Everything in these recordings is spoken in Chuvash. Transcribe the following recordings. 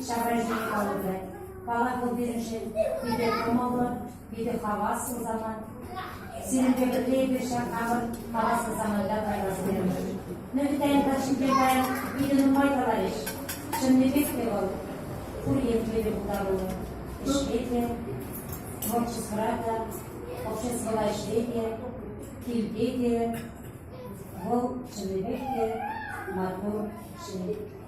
Ҫапӑҫу калӑпӑр. Палату пирӗншӗн питӗ кӑмӑллӑ, питӗ хаваслӑ самант. Сирӗнпе пӗрле эпир ҫак хамӑр хаваслӑ саманта кайрас терӗмӗр. Нӑвитаин ташшипе паян питӗ нумай каларӗҫ. Чӑннипех те вӑл пур енне те пултаруллӑ. Ӗҫре те, творчествӑра та, обществӑлла ӗҫре те, килте те вӑл чӑннипех те маттур ҫын.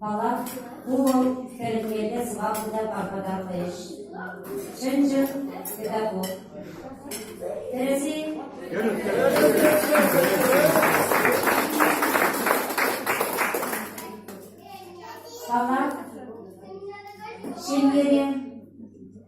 Палак ку вӑл хӗрӗнмелле сӑваплӑ та пархатарлӑ ӗҫ, чӑн-чӑн педагог. Тӗрӗс-и? Палак ҫемьере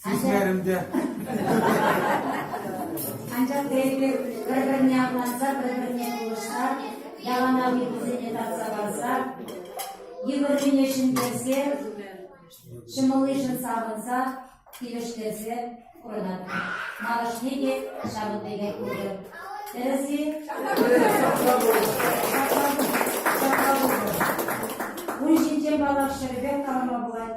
Сисмерӗм те. Анчах тейӗпех пӗр-пӗрне апла-анса, пӗр-пӗрне пулӑшса, яланах йывӑрсене татса парса, йывӑррине ҫӗнтерсе, ҫӑмӑллишӗн савӑнса, килӗштерсе пурӑнатпӑр. Малашне те ҫавӑн пекех пулӗ. Тӗрӗс-и? Ун ҫинчен паллах ҫӗрӗпех калама пулать.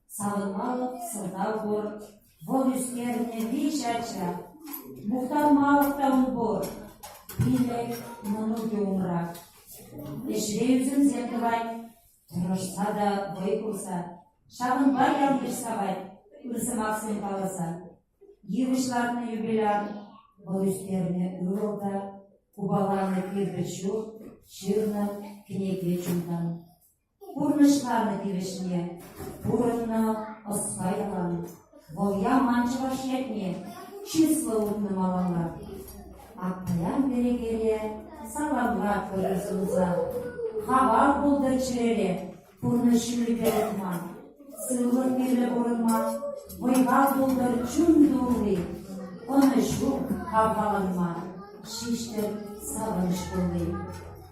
Савӑнмалӑх сӑлтав пур, вӑл ӳстернӗ виҫӗ ача. Мухтанмалӑх та ун пур. Пилӗк, мӑнукӗ умра. Ӗҫре ӳсӗмсем тӑвать, тӑрӑшса та вӑй хурса, ҫавӑнпа ял-йыш савать, ыр сӑмахсем каласа. Йывӑҫ лартнӑ юбиляр, вӑл ӳстернӗ ывӑл та, купаланӑ кирпӗч ҫурт, ҫырнӑ кӗнеке чунтан. Пурнӑҫланӑ тивӗҫне пурӑннӑ ӑспа ялан. Вӑл яман чӑваш ятне чыслӑ утнӑ малалла. Аппаян перекеле саламлатпӑр эс унса. Хавал пултӑр чӗрере, пурнӑҫ ҫулӗпе утма. Сывлӑх мирлӗ пурӑнма, вӑйпа пултӑр чун тулли. Ӑнӑҫу хавхаланма, ҫиҫтӗр савӑнӑҫ тулли.